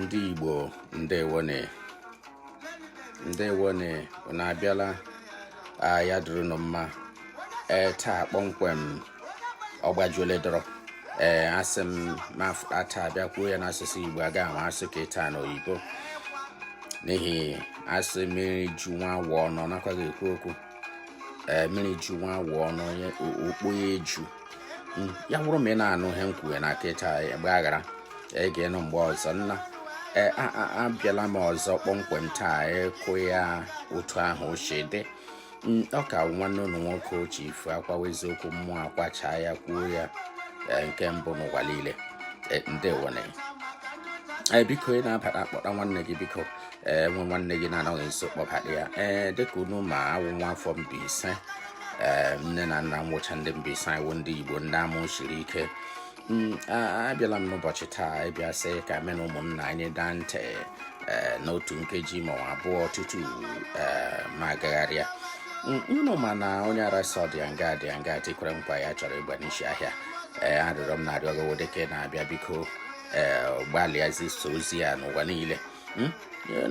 ndị Igbo ndewonụ ndewonụ unu abịala ya dịrị nụ mma ee taa kpọmkwem ọ gbajuole dọrọ ee asị m ma taa abịa kwuo ya n'asụsụ Igbo aga ma asị ka ịta na oyibo n'ihi a sị mmiri ju nwa awọ ọnụ ọ nakwaghị ekwu okwu ee mmiri ju nwa awọ ọnụ onye okpo ya eju Mm, ya wụrụ ma ị na-anụ ihe m kwuwe na kịta ị gbaghara ị ga-anụ mgbe ọzọ nna ee a- a- abịala m ọzọ kpọmkwem taa ikwu ya otu ahụ o si dị Mm, ọ ka wụ nwanne unu nwoke oche ifu akwawa eziokwu mmụọ akwacha ya kwuo ya ee, nke mbụ n'ụwa niile Ee, ndewonụ ee biko ị na-abata akpọta nwanne gị biko e nwee nwanne gị na-anọghị nso kpọbata ya ee dịka unu ma awụ m nwa afọ Mbaise ee nne na nna m wụcha ndị Mbaise anyị wụ ndị Igbo ndị amụ siri ike mm, abịala m n'ụbọchị taa ịbịa sị ka mụ na ụmụnna anyị daa ntị ee n'otu nkeji ma abụọ tutu ee m agagharịa mm, unu ma na onye ara sị ọ dị ya nga dị ya nga tikwere nkwa ya chọrọ ịgba n'isi ahịa ee arịrịọ m na-arịọ gị dịka ị na-abịa biko ee gbalịa zisa ozi ya n'ụwa niile hmm?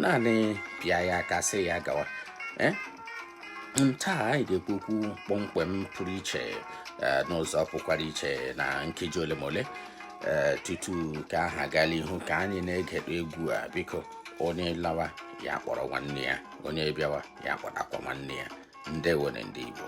naanị pịa ya aka sị ya gawa eh? hmm, taa anyị ga-ekwu okwu kpọmkwem pụrụ iche eh, n'ụzọ pụkwara iche na nkeji ole ma ole eh, tutu ka aha gala ihu ka anyị na-egedo egwu a biko onye lawa ya kpọrọ nwanne ya onye bịawa ya kpọtakwa nwanne ya ndewonụ ndị Igbo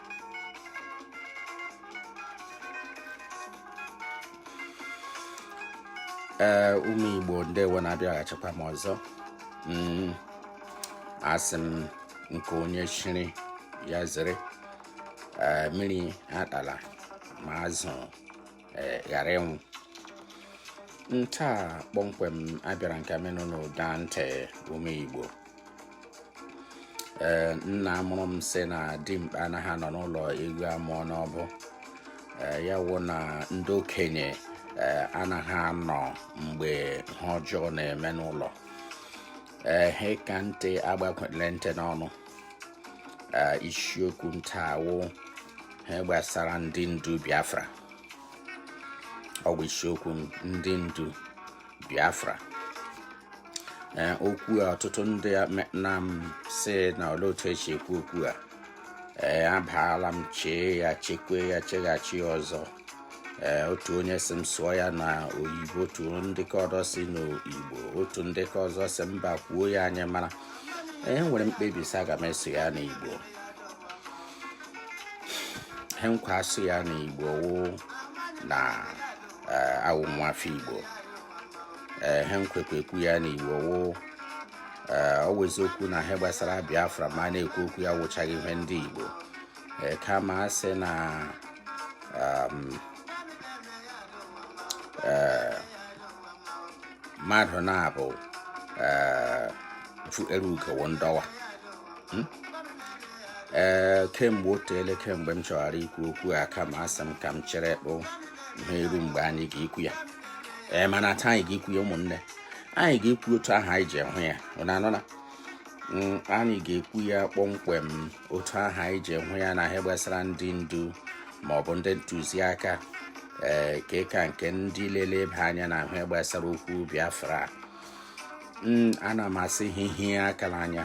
ee ụmụ igbo ndewo nụ abịaghachikwa m ọzọ mm, asị m nke onye chiri ya zere mmiri atala ma azụ eh, ghara ịnwụ ntaa kpọmkwem abịara m ka mụ na unu daa ntị ụmụ igbo ee eh, nna mụrụ m sị na dimkpa anaghị anọ n'ụlọ ewu amụọ n'ọbụ eh, ya wụ na ndị okenye anaghị anọ mgbe ihe ọjọọ na-eme n'ụlọ ehe ka ntị agbakwele ntị n'ọnụ isiokwu m taa wụ ihe gbasara ndị ndu biafra ọ wụ isiokwu m ndị ndu biafra okwu a ọtụtụ ndị na m sị na olee otu e si ekwu okwu a ee abaala m chee ya chekwe ya cheghachi ọzọ ee otu onye sị m sụọ ya na oyibo otu ndị ke ọzọ sị n'igbo otu ndị ke ọzọ sị mba kwuo ya anyị mara ee m were kpebie sị aga m asụ ya n'igbo ihe m ga-asụ ya n'igbo wụ na awụ m nwafọ igbo ihe m ga-ekwu ya n'igbo wụ ee ọ wụ ezi okwu na ihe gbasara biafra ma a na-ekwu okwu ya wụchaghị ihe ndị igbo ee kama a sị na um, ee, mmadụ na-abụ ee, fu- ere ugowo ndọwa ee kemgbe o teele kemgbe m chọghara ikwu okwu a kama asị m ka m cheretụ ihe eru mgbe anyị ga-ekwu ya ee mana taa anyị ga-ekwu ya ụmụnne anyị ga-ekwu otu ahụ anyị ji hụ ya ụnụ anụna mm, anyị ga-ekwu ya kpọmkwem otu ahụ anyị ji hụ ya na ihe gbasara ndị ndu ma ọ bụ ndị ntụziaka ee eh, ke ka nke ndị na-eleba anya na ihe gbasara okwu Biafra mm, ana m asị ha hie aka n'anya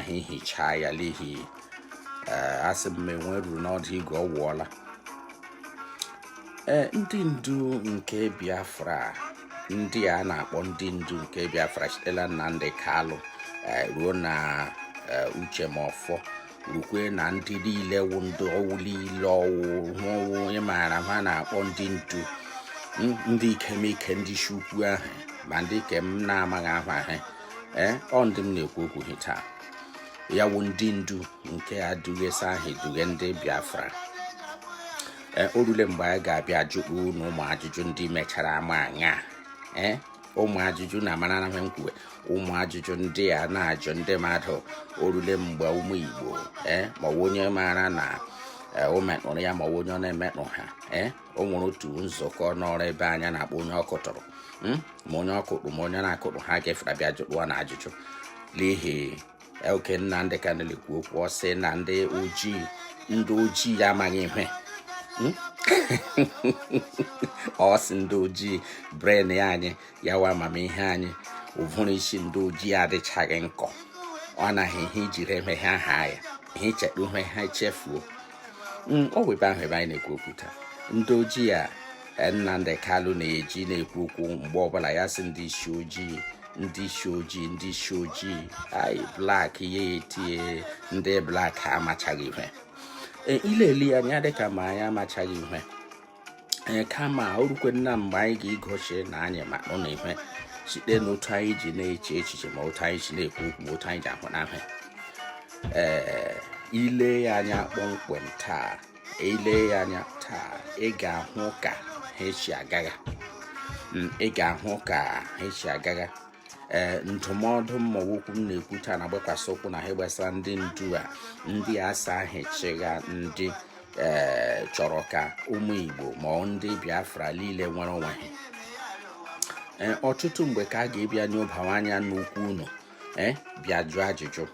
ha hichaa ya n'ihi eh, a sị ma enwe ruru n'ọdụ igu ọ wụọ ala ee ndị ndu nke biafra ndị a na-akpọ ndị ndu nke biafra site la Nnamdi Kalụ eh, ruo na eh, Uche Mefor rukwe na ndị niile wụ ndị ọ wụ niile ọ wụ hụwụ onye maara ha na-akpọ ndị ndu ndị ikemike ndị isi ukwu ahụ ma ndị ke m na-amaghị aha ha ee eh, ọ ndị m na-ekwu okwu ha taa ya wụ ndị ndu nke adụghesa ahụ eduhe ndị biafra ee o rule mgbe anyị ga-abịa ajụtụ na ụmụ ajụjụ ndị mechara ama anya ee ụmụ ajụjụ na amara na m kwuwe ụmụ ajụjụ ndị a na-ajụ ndị mmadụ o rule mgbe ụmụ igbo ee ma ọ bụ onye maara na ee, o metụrụ ya ma ọ bụ onye ọ na-emetụ ha ee o nwere otu nzukọ nọrọ ebe anya na-akpọ onye ọ kụtụrụ Mm? ma onye ọ kụtụ ma onye na-akụtụ ha ga-efere bịa jụtụwa na ajụjụ n'ihi oge Nnamdi Kanu na-ekwu okwu ọ sị na ndị ojii a amaghị ihe hmm? ọ sị ndị ojii brain anyị ya wụ amamihe anyị ụvụrụ isi ndị ojii adịchaghị nkọ ọ naghị ihe ijiri emeghe aha ya ihe icheta ihe ha echefuo mm, ọ wụ ebe ahụ ebe anyị na-ekwu okwu taa ndị ojii a eh, Nnamdi Kalu na-eji na-ekwu okwu mgbe ọbụla ya sị ndị isi ojii ndị isi ojii ndị isi ojii anyị black ya etie ndị black amachaghị ihe eh, i lele ya anya dịka ma anyị amachaghị ihe anyị kama orukwe nna mgbe anyị ga-egosi na anyị ma nọ n'ihe site n'otu anyị ji na-eche echiche ma otu anyị ji na-ekwu okwu ma otu anyị ji ahụ ihe ee ile ya anya kpọmkwem taa ile ya anya taa ị ga-ahụ ka ha si agagha mm, ị ga-ahụ ka ha si agagha ee eh, ndụmọdụ m ma ọ wụ okwu m na-ekwu taa na-agbakwasị ụkwụ na ha gbasara ndị ndu a ndị sị ha chịgha ndị ee eh, chọrọ ka ụmụ Igbo ma ndị Biafra niile nwere onwe ha eh, ọtụtụ mgbe ka a ga-ebịa n'obawa anya n'ukwu unu ee eh, bịa jụọ ajụjụ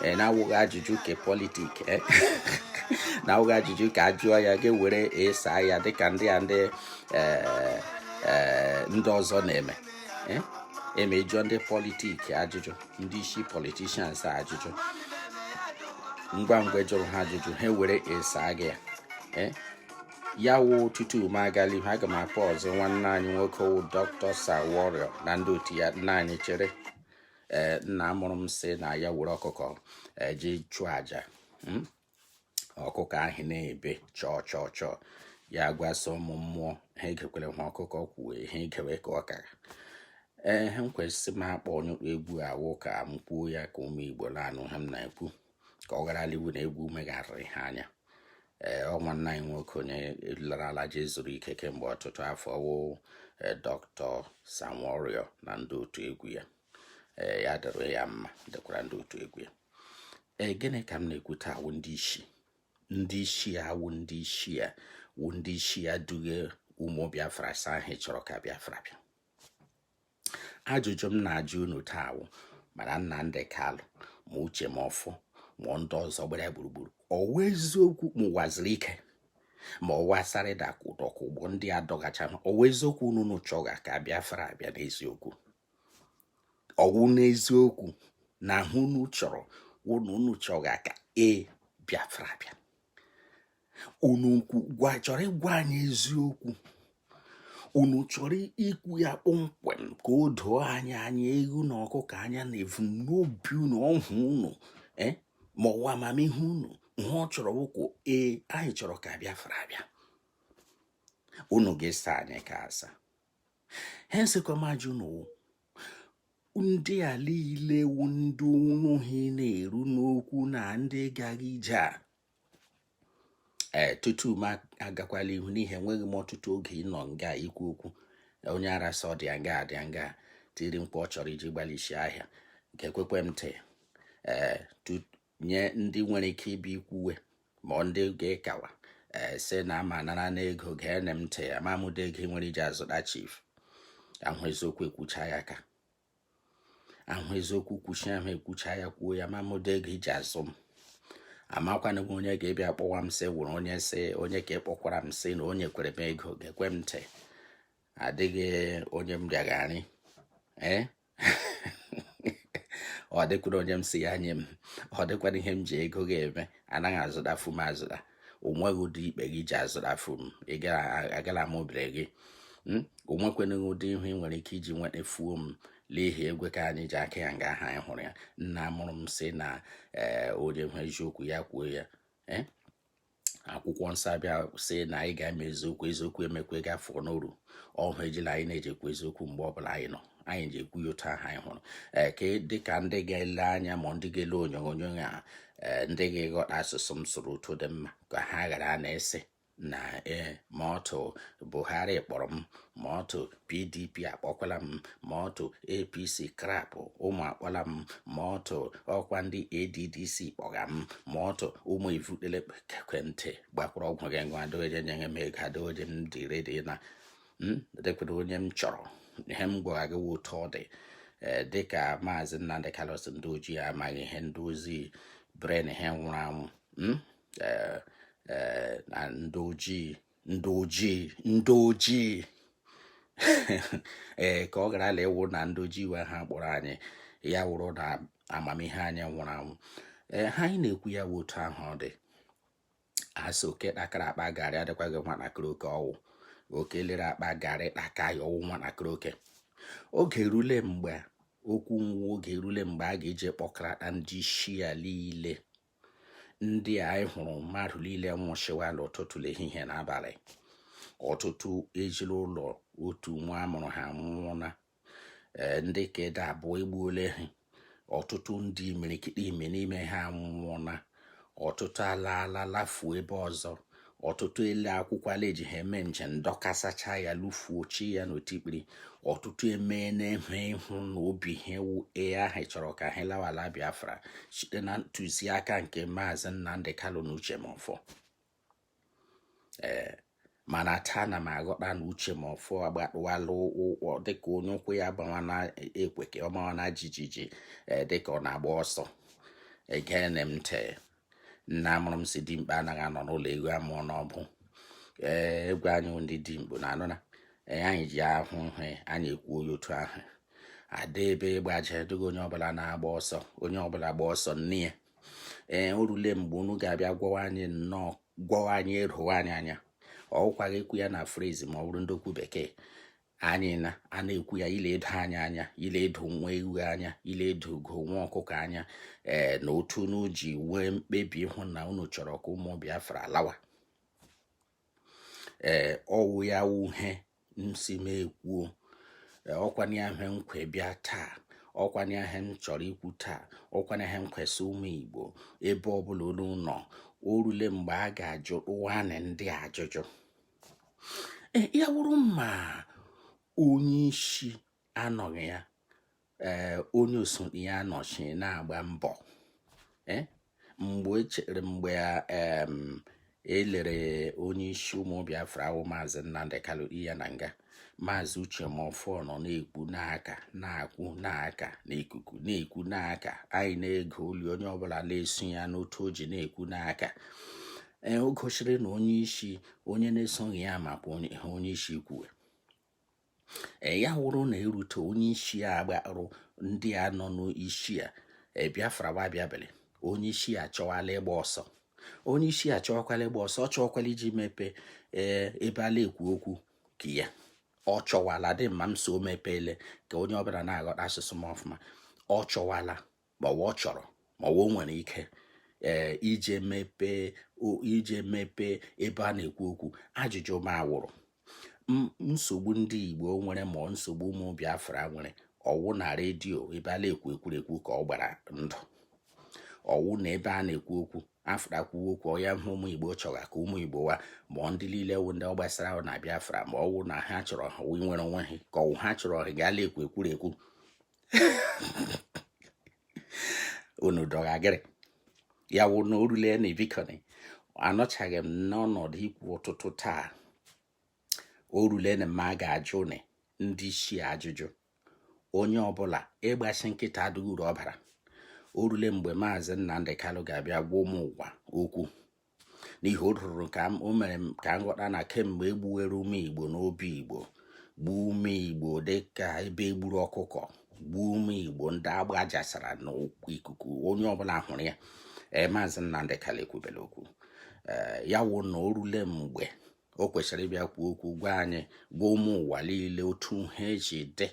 ee na-awụghị ajụjụ ke politik ee na-awụghị ajụjụ ke a jụọ ya ga-ewere esa ya dịka ndị a ndị ndị ọzọ na-eme eme jụọ ndị politik ajụjụ ndị isi politishans ajụjụ ngwa ngwa ị jụrụ ha ajụjụ ha were ịsa gị ya eh? ya wụ tutu m agala ihu aga m akpọzi nwanne anyị nwoke wụ dọkịta Sir Warrior na ndị otu ya nna anyị chere eh, nna mụrụ m sị na ya were ọkụkọ je eh, chụọ aja hmm? ọkụkọ ahụ na-ebe chọọ chọọ chọọ ya gwa sị ụmụ mmụọ ha egekwala ha ọkụkọ kwuo ha egewe ka ọ kara ee ha kwesịrị m akpọ onye egwu a wụ ka m kwuo ya ka ụmụ Igbo na-anụ ha m na-ekwu ka ọ gharala ịwụ na egwu megharịrị ha anya ee ọ nwanne anyị nwoke onye larala je zuru ike kemgbe ọtụtụ afọ wụ e, dọkịta Sir Warrior na ndị otu egwu ya ee ya dịrị ya mma dịkwara ndị otu egwu ya ee gịnị ka m na-ekwu taa wụ ndị isi ndị isi ya wụ ndị isi ya wụ ndị isi ya dughe ụmụ Biafra sị ha chọrọ ka Biafra bịa ajụjụ m na-ajụ unu taa wụ mana Nnamdi Kalụ ma Uche Mefor ma ndị ọzọ gbara gburugburu ọwa eziokwu ma Uwazuruike ma ọwa Asari Doku Dokubo ndị a dọgacha ọwa eziokwu unu chọga ka Biafra abịa n'eziokwu ọ wụ n'eziokwu na ha unu chọrọ unu unu chọga ka e Biafra bịa unu chọrọ ịgwa anyị eziokwu unu chọrọ ikwu ya kpọmkwem ka o doo anyị anya ewu na ọkụkọ anya na ebumnobi unu ọhụụ unu eh, ma ọwa amamihe unu ihe ọ chọrọ wụkwa ee anyị chọrọ ka Biafra bịa unu ga-esa anyị ka asa ha esekwa m ajụ unu ndị a niile wu ndị ọnụ ha na-eru n'okwu na ndị gagha ije a ee tutu m agakwala ihu n'ihi enweghị m ọtụtụ oge ịnọ nga ikwu okwu onye ara sị ọ dị nga dị nga tiri mkpu ọ chọrọ iji gbalịsi ahịa nke ekwekwe m ntị ee nye ndị nwere ike ịbịa ikwuwe ma ndị ga-ekawa eh, sị na ama nara n'ego geenụ m ntị amam ụdị ego nwere iji azụta chief ahụ eziokwu ekwucha ya ka ahụ eziokwu kwuchi ahụ ekwucha ya kwuo ya amam ụdị ego iji azụ m amakwana m onye ga-ebịa kpọwa m sị wụrụ onye sị onye ka ịkpọkwara m sị na onye kwere m ego geekwa m ntị adịghị onye m bịagharị ee eh? ọ dịkwara onye m sị ya nye m ọ dịkwara ihe m ji ego gị eme anaghị azụtafu m azụta o nweghị ụdị ikpe gị ji azụtafu m agala m obere gị hmm? o nwekwana ụdị ihu ị nwere ike iji nwetafuo m n'ihi egwe ka anyị ji aka ya nga ahụ anyị hụrụ ya nna mụrụ m sị na eh, onye nwe eziokwu ya kwuo ya eh? akwụkwọ nsọ abịa sị na anyị ga-ama eziokwu eziokwu emekwa gafuo n'oru ọhụ ejila anyị na-eji ekwu eziokwu mgbe ọbụla anyị nọ anyị ji ekwu ya otu ahụ anyị hụrụ ee ka dịka ndị ga-ele anya ma ndị ga-ele onyonyo ya ee ndị ga-eghọta asụsụ m sụrụ otu dị mma ka ha ghara na-asị na ee ma otu Buhari kpọrọ m ma otu pdp akpọkwala m ma otu apc crap ụmụ akpọla m ma otu ọkwa ndị adc kpọga m ma otu ụmụ ivutele ekwentị gbakwara ọgwụ gị ngwa adoje nye m ego adoje m dị ready na hmm, dekwere onye m chọrọ ihe m gwara gị otu ọ dị eh, dịka maazị Nnamdi Kanu ndị ojii amaghị ihe ndị ojii brain ha nwụrụ anwụ hmm, eh, eh, na ndị ojii ndị ojii ndị ojii ee ka ọ ghara ịla ịwụ na ndị ojii wee ha kpọrọ anyị ya wụrụ na amamihe anyị nwụrụ anwụ ee ihe anyị na-ekwu ya bụ otu ahụ ọ dị a sị oke kpakara akpa garị adịkwaghị nwatakịrị oke ọ wụ oke lere akpa garị kpaka ya ọ wụ nwatakịrị oke oge erule mgbe okwu nwa oge erule mgbe a ga-eji kpọkarata ndị isi a niile ndị anyị hụrụ mmadụ niile nwụchiwala ụtụtụ ehihie na abalị ọtụtụ ejila ụlọ otu nwa a mụrụ ha nwụna eh, ndị ke dị abụọ egbuola ha ọtụtụ ndị imirikiti ime n'ime ha nwụna ọtụtụ alaala lafuo ebe ọzọ ọtụtụ ele akwụkwọ la eji ha eme njem dọkasacha ya lufuochaa ya n'otikpiri ọtụtụ eme na-enwe ịhụ na obi ha ewu ee ahụ chọrọ ka ha lawala Biafra site na ntụziaka nke maazị Nnamdi Kanu na Uche Mefor ee mana taa na m aghọta na Uche Mefor agbatụwala ụkwụ dịka onye ụkwụ ya gbawa na ekweke ọ mawa na jijiji dịka ọ na-agba ọsọ egene m ntị nna mụrụ m sị dimkpa anaghị anọ n'ụlọ ewu amụọ n'ọgbụ ee egwu anyị ndị dimkpa na anụ na anyị ji ahụ ihe anyị ekwu onye otu ahụ ada ebe gbaje dịghị onye ọbụla na-agba ọsọ onye ọbụla gba ọsọ nne ya ee o rule mgbe unu ga-abịa gwawa anyị nnọọ gwawa anyị eruwa anyị anya ọ gwaghị ekwu ya na phrase ma ọ bụrụ ndị okwu bekee anyị na a na-ekwu ya ile edo anyị anya ile edo nwa ewu anya ile edo ugo nwa ọkụkọ anya ee na otu unu ji nwee mkpebi ịhụ na unu chọrọ ka ụmụ Biafra lawa ee ọ wụ ya wụ ihe m sị m kwuo ọkwanye ihe nkwe bịa taa ọkwanye ihe m chọrọ ikwu taa ọkwanye ihe m kwesị ụmụ Igbo ebe ọbụla unu nọ o rule mgbe a ga-ajụwanụ ndị ajụjụ e, ya wụrụ ma onye isi anọghị ya ee onye osote ya anọchie na-agba mbọ e, mgbe echere mgbe e lere onye isi ụmụ Biafra ahụ maazị Nnamdi Kanu ya na nga maazị Uche Mefor nọ na-ekwu n'aka na-akwụ n'aka n'ikuku na-ekwu n'aka anyị na-ege oli onye ọbụla na-eso ya n'otu o ji na-ekwu n'aka ee o gosiri na onye isi onye na-esote ya maka onye isi kwuwe ee ya wụrụ na erute onye isi agbarụ ndị a nọ n'isi a e, Biafra wa bịa buli onye isi a chọwala ịgba ọsọ onye isi a chọọkwala ịgba ọsọ ọ chọọkwala ije mepee ee ebe a la-ekwu okwu nke ya ọ chọwala dị mma m so mepeele ka onye ọbụla na-aghọta asụsụ m ọfụma ọ chọwala ma ọ wa ọ chọrọ ma o nwere ike ee ije mepee ije mepee ebe a na-ekwu okwu ajụjụ m a wụrụ nsogbu ndị Igbo nwere ma ọ nsogbu ụmụ Biafra nwere ọ wụ na redio ebe a na-ekwu ekwurekwu ka ọ gbara ndụ ọ wụ na ebe a na-ekwu okwu afụtakwuo okwu ọ ya ihe ụmụ Igbo chọga ka ụmụ Igbo wa ma ọ ndị niile wụ ndị ọ gbasara na Biafra ma ọ wụ na ha chọrọ ha nwere onwe ha ka ọ wụ ha chọrọ ha ga la-ekwu ekwurekwu unu dọghagịrị ya wụ na o rule na bikonị anọchaghị m n'ọnọdụ ikwu ụtụtụ taa o rule na m ga-ajụnị ndị isi ajụjụ onye ọbụla ịgbachi nkịtị adịghị uru ọ bara o rule mgbe maazị Nnamdi Kanu ga-abịa gwa ụmụ ụwa okwu n'ihi o ruru ka o mere ka m ghọta na kemgbe e gbuwere ụmụ Igbo n'obi Igbo gbuo ụmụ Igbo dị ka ebe e gburu ọkụkọ gbuo ụmụ Igbo ndị a gbajasara n'ikuku onye ọbụla hụrụ ya ee maazị Nnamdi Kanu ekwubela okwu ee ya wụ na o rule mgbe o kwesịrị ịbịa kwuo okwu gwa anyị gwa ụmụ ụwa niile otu ha eji dị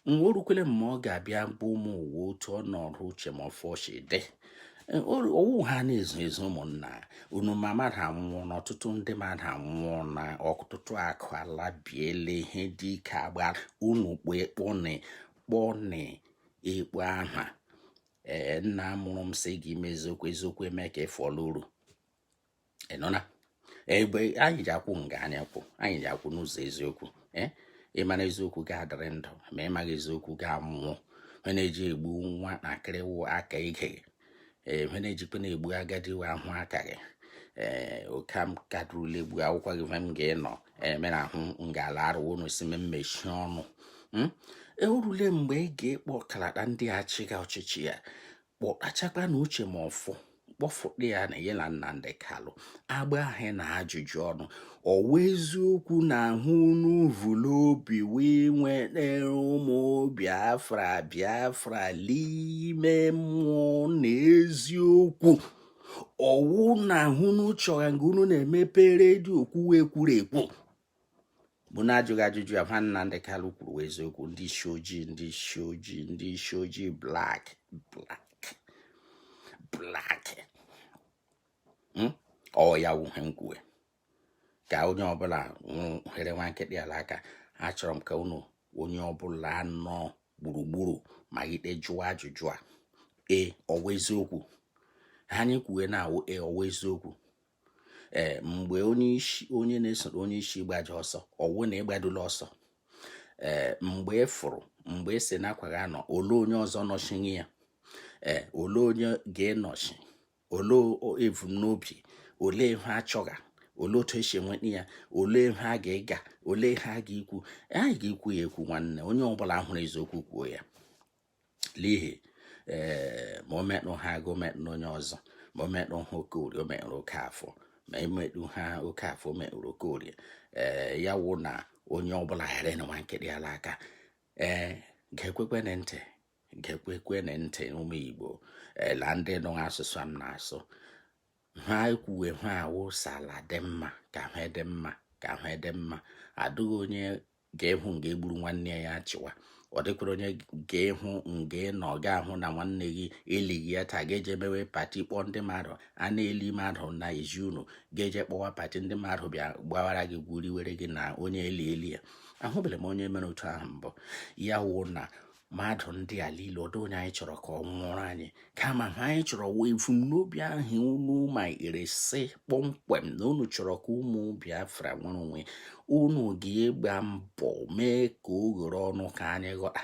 na o rukwele mgbe ọ ga-abịa gwa ụmụ ụwa otu ọnọdụ Uche Mefor si dị e, ọ wụ ihe a na-ezo ezo ụmụnna unu ma mmadụ anwụọna ọtụtụ ndị mmadụ anwụọna ọtụtụ akụ ala biele ihe dị ike agba unu kpọ ekpọnị kpọnị ekpo aha ee nna mụrụ m sị gị mee eziokwu eziokwu eme ka ịfọlụ uru ị nụna ihe anyị ji akwụ nga anyị kwụ anyị ji akwụ n'ụzọ eziokwu eh? ị mara eziokwu ị ga-adịrị ndụ ma ị maghị eziokwu ị ga-anwụ ihe na-eji egbu nwatakịrị wụ aka ike eh, ihe na-ejikwa na-egbu agadi wụ aka ike eh, oke m kadụrụla egbu akwụkwọ gị m ga-enọ emere eh, ahụ m ga-ala arụ unu si m mmechi ọnụ hmm? o rule mgbe ị ga-ekpọkalata ndị a chịga ọchịchị a kpọtachakwa na Uche Mefor kpọfụta ya na ya na Nnamdi Kalụ a gbaa ha ajụjụ ọnụ ọ wụ eziokwu na ihe unu vu l'obi wụ inwere ụmụ Biafra Biafra n'ime mmụọ na eziokwu ọ wụ na ihe unu chọga nga unu na-emepe redio kwuwa ekwuru ekwu bụ na-ajụga ajụjụ a ihe Nnamdị Kalụ kwuru wụ eziokwu ndị isi ojii ndị isi ojii ndị isi ojii black black black hmm? ọ ya wụ ihe m kwuwe ka onye ọbụla ghara nwa nkịtị ala aka achọrọ m ka unu onye ọbụla nọ gburugburu ma ikpe jụọ ajụjụ a e ọ wụ eziokwu ihe anyị kwuwe na ọ wụ e ọ wụ eziokwu ee mgbe onye isi onye na-esoro onye isi gbaji ọsọ ọ wụ na ị gbadula ọsọ ee mgbe i furu mgbe ị e si n'akwa gị anọ ole onye ọzọ nọchie ya ee ole onye ga-enọchi ole ebumnobi ole ihe a chọga olee otu e si enweta ya olee ihe a ga-ega olee ihe a ga-ekwu anyị ga-ekwu ya ekwu nwanne onye ọbụla hụrụ eziokwu kwuo ya n'ihi ee eh, ma o metụ ha gị metụ onye ọzọ ma o metụ ha Okorie o metụrụ Okafọ ma o metụ ha Okafọ o metụrụ Okorie ee eh, ya wụ na onye ọbụla ghara ịnwa nkịtị ala aka ee eh, ga-ekwekwe na ntị ga-ekwekwe na ntị ụmụ Igbo la ndị nụ asụsụ m na-asụ ha ekwuwe ha wụ sị ala dị mma ka ihe dị mma ka ihe dị mma adịghị onye ga-ehụ nga e gburu nwanne ya ya chịwa ọ dịkwara onye ga-ehụ nga na ọ ga-ahụ na nwanne gị elighị ya taa gị eje mewe party kpọọ ndị mmadụ a na-eli mmadụ na ezi unu ga-eje kpọwa party ndị mmadụ bịa gbawara gị gwuriwere gị na onye eli eli ya ahụbeghị m onye mere otu ahụ mbụ ya wụ na mmadụ ndị a niile ọdụ onye anyị chọrọ ka ọ nwụrụ anyị kama he anyị chọrọ wụ ebumnobi ahụ unu mara sị kpọmkwem na unu chọrọ ka ụmụ Biafra nwere onwe unu ga-egba mbọ mee ka o ghere ọnụ ka anyị ghọta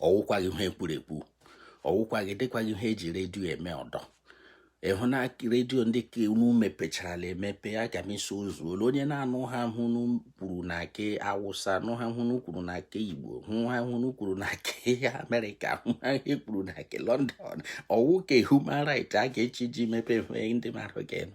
ọ wụkwaghị ihe e kwuru ekwu ọ wụkwaghị dịkwaghị ihe e ji redio eme ọdọ ị hụna redio ndị ke unu mepecharala emepe aga m iso ụzọ ole onye na-anụ he unu kwuru na ke Awụsa nụ he unu kwuru na ke Igbo hụ he unu kwuru na ke Amerịka hụ he e kwuru na ke London ọ wụ ke human right a ga-echi ji mepe ndị mmadụ ga-enụ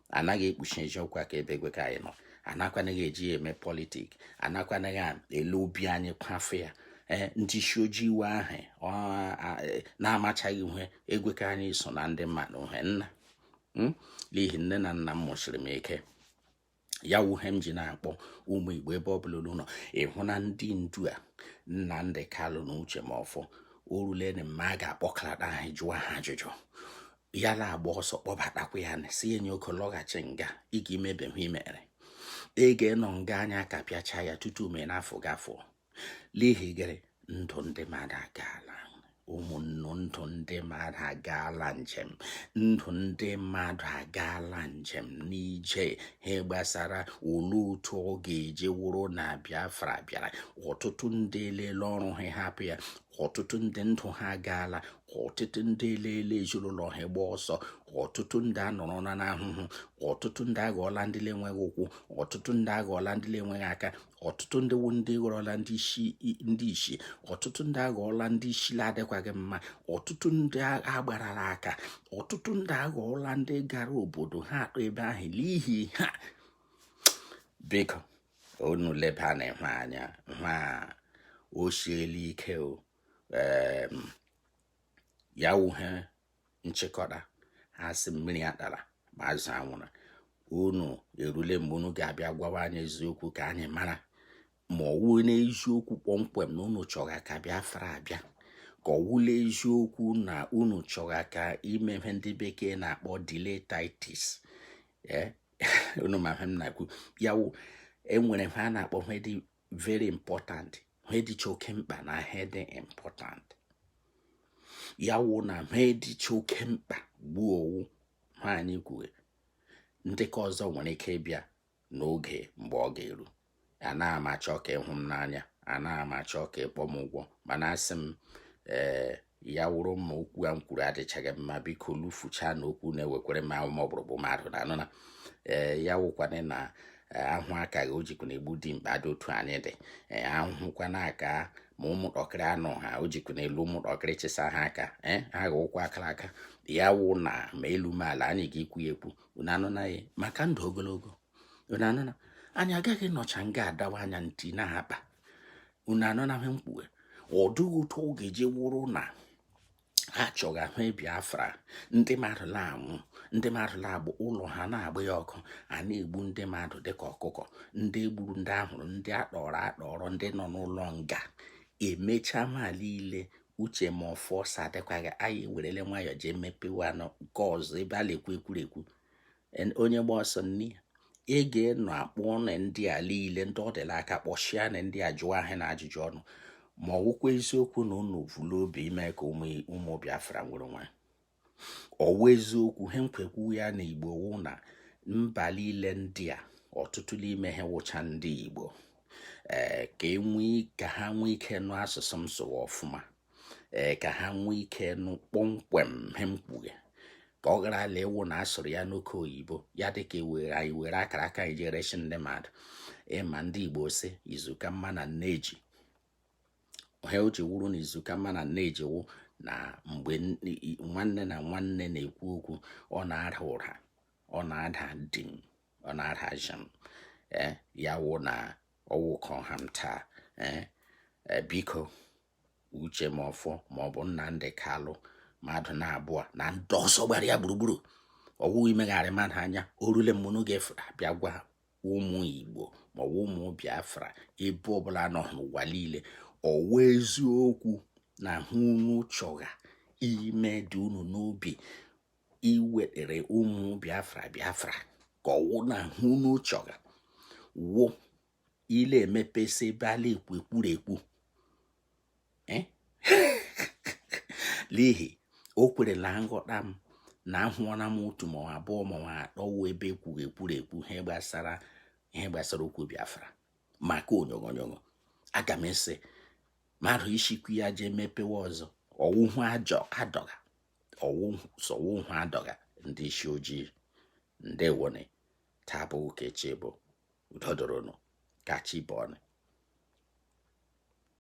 anaghị ekpuchi eziokwu aka ebe egwe ka anyị nọ anakwanaghị eji ya eme politik anakwanaghị ele obi anyị kwafe ya ee ndị isi ojii iwe ahụ e, na-amachaghị ihe egwe ka anyị so na ndị mmadụ he nna hmm? n'ihi nne na nna m mụsiri m ike ya wụ he m ji na-akpọ ụmụ Igbo ebe ọ bụla unu nọ ị hụna ndị ndu a Nnamdị Kalụ na Uche Mefor o rulene mgbe a ga-akpọkalata ha jụọ ha ajụjụ ya na-agba ọsọ kpọbatakwa ya na-asị ya nwoke lọghachi nga ị ga-emebe he i mere ị ga-enọ nga anyị akapịachaa ya tutu mee n'afọ gafọ n'ihi gịrị ndụ ndị mmadụ agaala ụmụnne ndụ ndị mmadụ agaala njem ndụ ndị mmadụ agaala njem n'ije ha gbasara ole otu ọ ga-eji wụrụ na Biafra bịara ọtụtụ ndị elela ọrụ ha hapụ ya ọtụtụ ndị ndụ ha agaala ọtụtụ ndị elela ezinụlọ ha gba ọsọ ọtụtụ ndị anọrọna n'ahụhụ ọtụtụ ndị aghọọla ndị na-enweghị ụkwụ ọtụtụ ndị aghọọla ndị na-enweghị aka ọtụtụ ndị wu ndị ghọrọla ndị isi ọtụtụ ndị aghọọla ndị isi na-adịkwaghị mma ọtụtụ ndị agbarala aka ọtụtụ ndị aghọọla ndị gara obodo ha atọ ebe ahụ n'ihi ha biko unu lebana ihe a anya hụ o siela ike o ya wụ he nchịkọta ha sị mmiri atala ma azụ anwụrụ unu erule mgbe unu ga-abịa gwawa anyị eziokwu ka anyị mara ma ọ wụ n'eziokwu kpọmkwem na unu chọga ka Biafra abịa ka ọ wụ n'eziokwu na unu chọga ka ime ihe ndị bekee na-akpọ delay tactics eh, unu ma ihe m na-ekwu ya wụ e nwere he a na-akpọ ihe dị very important he dịcha oke mkpa na he dị important ya wụ na he dịcha oke mkpa gbuo ọ wụ he anyị kwuwe ndị ke ọzọ nwere ike ịbịa n'oge mgbe ọ ga-eru anaghị m achọ ka ị hụ m n'anya anaghị m achọ ka ị kpọ m ugwu mana asị m ee eh, ya wụrụ ma okwu a m kwuru adịchaghị mma biko lufuchaa na okwu na-ewekwere m ahụ ma ọgbụrụgbụ mmadụ na anụ na ee ya wụkwana na ahụ akaghị o jikwa na-egbu dimkpa dị otu anyị dị ee ahụhụkwana aka ma ụmụntakịrị anụ ha o jikwa na elu ụmụntakịrị chịsa ha aka ee ha ga ụkwụ akara aka ya wụ na ma elu ma ala anyị ga-ekwu ya ekwu unu anụna ya maka ndụ ogologo anụna anyị agaghị nọcha nga adawa anya ntị na akpa unu anụna he m kwughe ọ dịghị otu ọ ga-eji wụrụ na ha chọgha ahụ Biafra ndị mmadụ na-anwụ ndị mmadụ na-agba ụlọ ha na-agba ya ọkụ a na-egbu ndị mmadụ dịka ọkụkọ ndị e gburu ndị a hụrụ ndị akpọrọ akpọrọ ndị nọ n'ụlọ nga emechaa ma niile Uche Mefor ọ sị adịkwaghị anyị ewerele nwayọọ jee mepewe nke ọzọ ebe a na-ekwu ekwurekwu onye gba ọsọ nne ya ị ga-enọ akpọ ọnụ ndị a niile ndị ọ dị l'aka kpọchienụ ndị a jụọ ha na ajụjụ ọnụ ma ọ wụkwa eziokwu na unu vu l'obi ime ka ụmụ Biafra nwere onwe ha ọ wụ eziokwu he m jikwa ekwu ya na Igbo wụ na mba niile ndị a ọtụtụ n'ime ha wụcha ndị Igbo ee eh, ka enwee ka ha nwee ike nụ asụsụ m sụwa ọfụma ee ka ha nwee ike nụ kpọmkwem he m kwughe ka ọ ghara ịla awụ na a sụrụ ya n'oke oyibo ya dịka iwere e anyị were akara aka anyị ji ereshi ndị mmadụ ị ma ndị igbo sị izu ka mma na nneji he o ji wụrụ na izu ka mma na nneji wụ na mgbe nwanne na nwanne na-ekwu okwu ọ na-ada ụda ọ na-ada dim ọ na-ada jam ee eh, ya wụ na ọ wụ ka a ha m taa ee eh, eh, biko uche mefor ma ọ bụ nnamdi kalu mmadụ na abụọ na ndị ọzọ gbara ya gburugburu ọ wụ imegharị mmadụ anya o rule mgbe unu ga-eji abịa gwa ụmụ igbo ma ọ wụ ụmụ biafra ebe ọbụla nọ n'ụwa niile ọ wụ eziokwu na he unu chọgha ime dị unu n'obi iwetere ụmụ biafra biafra ka ọ wụ na he unu chọgha wụ ịla-emepesi ebe a la-ekwu ekwurekwu eh? n'ihi okwere la nghọta m na ahụọla m otu ma abụọ ma atọ wụ ebe e kwugha ekwurekwu ihe gbasara ihe gbasara okwu biafra maka onyogonyonyo aga m ese mmadụ isikwu ya jee mepewe ọzọ ọ wụhụ ajọ adọga sọwụhụ adọga ndị isi ojii ndewone taa bụ ụka echi bụ udo dịrị unu ka chi bọọnụ